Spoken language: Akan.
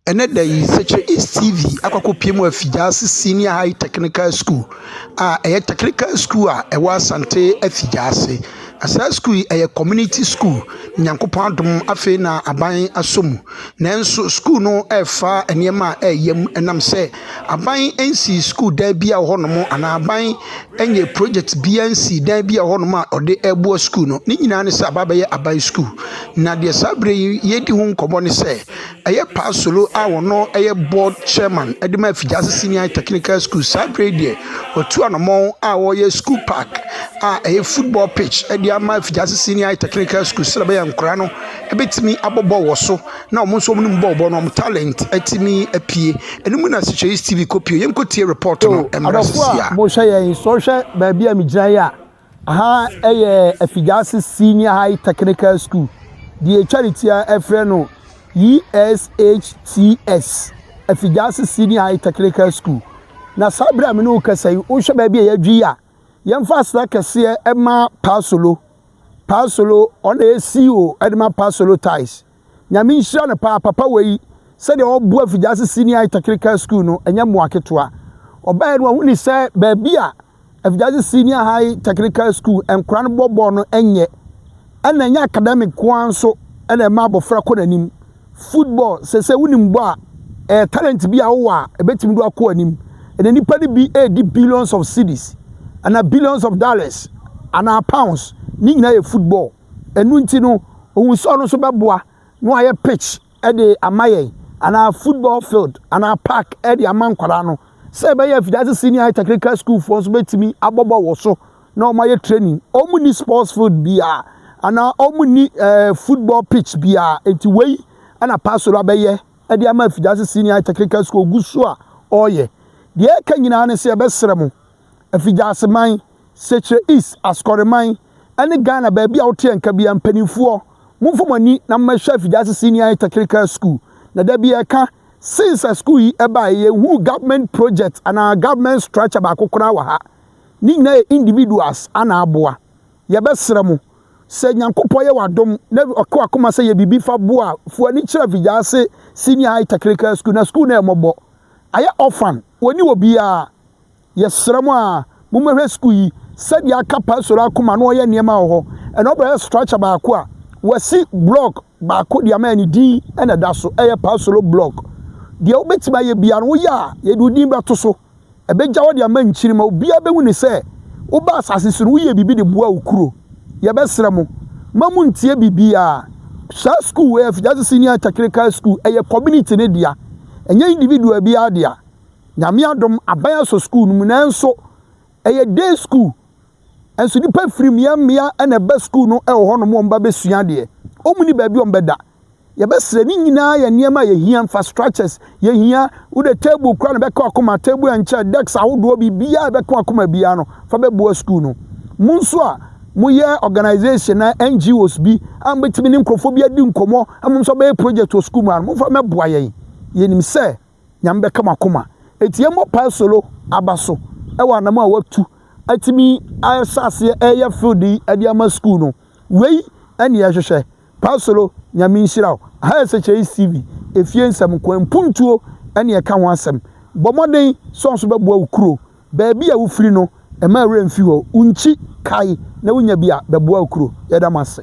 Ɛnnɛ da yi, Sekyere East TV akɔ akɔpue mu afi Gyaase Senior High Technical School a ɛyɛ technical school a ɛwɔ Asante afi Gyaase. Na saa school yi ɛyɛ community school. Onyankopɔn adom afei na aban asɔ mu. Nanso school no refa nneɛma a ɛyɛ yam ɛnam sɛ aban nsii school dan bi a ɛwɔ hɔnom anaa aban nyɛ project bi ansii dan bi a ɛwɔ hɔnom a ɔde reboa school no. Ne nyinaa ne sɛ aba abɛyɛ aban school. Na deɛ saa berɛ yi yɛredi ho nkɔmmɔ ne sɛ. Ɛyɛ Paa Solo a ɔno yɛ board chairman de ma Afigyase Senior High Technical School. Saa berɛ yi deɛ, watu anammɔn a ɔreyɛ school park a ɛyɛ football pitch de ama Afigyase Senior High Technical School sɛdeɛ ɛbɛyɛ a nkwadaa no bɛtumi abɔ bɔɔl wɔ so na wɔn nso wɔnim bɔɔl bɔ na wɔn talent atumi apue. Ɛno mu na Sitwais TV kɔpue. Yɛnkɔtie report no mmra seesei ara. Adɔfoɔ a mohwɛ yɛn yi, sɛ wohwɛ baabi a megyina yi a, Aha yɛ Afigyaase Senior High Technical School, deɛ ɛtwa ne ti a ɛfrɛ no ESHTS, Afigyaase Senior High Technical School. Na saa berɛ a me ne wo kasa yi, wohwɛ baabi a yɛadwi yi a, yɛmfa aseda kɛseɛ ma Paasolo. Paasolo, ɔna ɛyɛ CEO de ma Paasolo Tiles. Nyame nhyira no paa papa wei sɛdeɛ ɔboa Figyase Senior High Technical School no ɛnyɛ mmoa ketewa. Ɔbaeɛ no wahunu sɛ baabi a Figyase Senior High Technical School nkora no bɔ bɔɔl no ɛnyɛ ɛna ɛnyɛ academic koa nso ɛna ɛma abɔfra kɔ n'anim. Football sɛsɛ wonim bɔ a ɛyɛ talent bi a wowɔ a ɛbɛtumi do akɔ anim. Ɛna nipa no bi ɛredi billions of cedis anaa billions of dollars anaa pounds ne nyinaa yɛ football. Ɛno nti no, ohun sɛ ɔno nso bɛboa na wayɛ pitch de ama yɛn anaa football field anaa park de ama nkwadaa no sɛ ɛbɛyɛ afidaase senior high technical school foɔ nso bɛtumi abɔ bɔɔl wɔ so na wɔayɛ training. Wɔn nni sports field biara anaa wɔn nni ɛɛ eh, football pitch biara nti wei ɛna pastor abɛyɛ de ama afidaase senior high technical school gu so a ɔreyɛ. Deɛ ɛka nyinaa ne sɛ ɛbɛsrɛ mo Afigyaseman, Sekyerɛ East, Asukɔreman, ne Ghana baabi a woteɛ nka biara, mpaninfoɔ, momfa mo ani na mommɛhwɛ Afigyaase Senior High Technical School. Na da bi yɛka, since a school yi baeɛ, yɛnhuu government project anaa government structure baako koraa wɔ ha. Ne nyinaa yɛ individuals na aboa. Yɛbɛsrɛ mo, sɛ Nyankopɔn yɛ w'adom na ɔka w'akoma sɛ yɛ biribi fa boa a, fi w'ani kyerɛ Afigyaase Senior High Technical School. Na school no yɛ mmɔbɔ. Ayɛ orphan, wɔnni obiara. Yɛsrɛ mo a mommɛhwɛ sukuu yi sɛdeɛ aka Pastor akoma na ɔyɛ nneɛma wɔ hɔ. Ɛna ɔbɛyɛ structure baako a wasi block baako de ama ne din na ɛda so ɛyɛ Pastor block. Deɛ wobɛtumi ayɛ biara no woyɛ a yɛde wo din bɛto so. Ɛbɛgya hɔ de ama nkyiri ma obiara bɛhu ne sɛ woba asase so no woyɛ biribi de boa wo kuro. Yɛbɛsrɛ mo ma mo ntie biribiara. Saa sukuu wei Afigyase Senior Technical School ɛyɛ community no dea ɛnyɛ individual biara dea. Nyame adom aban asɔ sukuu no mu nanso ɛyɛ day school nso nnipa firi mmea mmea na ɛba sukuu no wɔ hɔnom wɔn ba bɛsua adeɛ wɔn ni baabi wɔn bɛda yɛbɛsrɛ ne nyinaa yɛ nneɛma a yɛhia infrastructures yɛhia wode table kora no bɛka wakoma table and chair decks ahodoɔ biribiaa ɛbɛka wakoma biaa no fa bɛboa sukuu no mo nso a moyɛ organization na NGOs bi a mobɛtumi ne nkurɔfoɔ bi adi nkɔmmɔ a mo nso bɛyɛ project wɔ sukuu mu a momfa mɛboa yɛn yɛnim sɛ Nyame bɛka mo akoma. Enti yɛn bɔ pae solo aba so ɛwɔ anam a watu atumi ahyɛ aseɛ ɛyɛ field yi ɛde ama school no wei ɛne yɛhwehwɛ pae solo Nyame nhyira wo higher sɛkyɛyi TV efie nsɛm nkoa mpuntuo ɛne ɛka ho asɛm bɔ mmɔden sɛ ɔnso bɛboa wo kuro baabi a wofiri no ɛma ɛwerɛ mfi hɔ wo nkyi kae na wonya bi a bɛboa wo kuro yɛda mo ase.